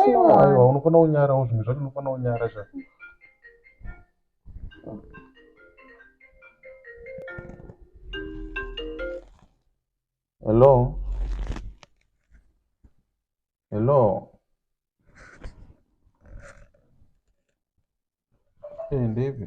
aiwa unofanira kunyarawo zvinhu zvacho unofanira kunyara zva hello hello eh, ndeipi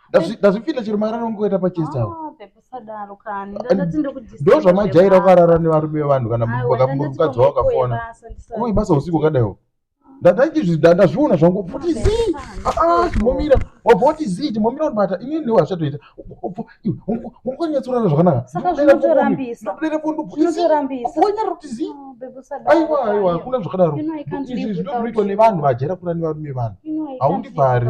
ndazvipinda chero mararo ngoita pachest awo ndo zvamajaira ukarara nevarume vevanhu kana mukadzi wavo kafona kuma ibasa usiku kadaiwo ndandazviona zvangu poti zii aa timomira wabva wati zii timomira unibata ini ndiwo hazvatoita unganyatsorara zvakanakandodere pondoonyara kuti zii aiwa aiwa hakuna zvakadaro izvi zvinoitwa nevanhu vajera kurani varume vanhu haundibvari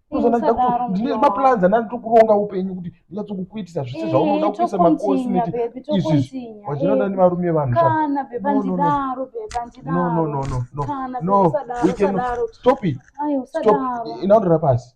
ndine maplans andani tokuronga upenyu kuti ndinatsokukuitisa zvese zvaunoda kuisa makosi neti izvizvi wachinoda nevarume vanhu stop it stop inaondora pasi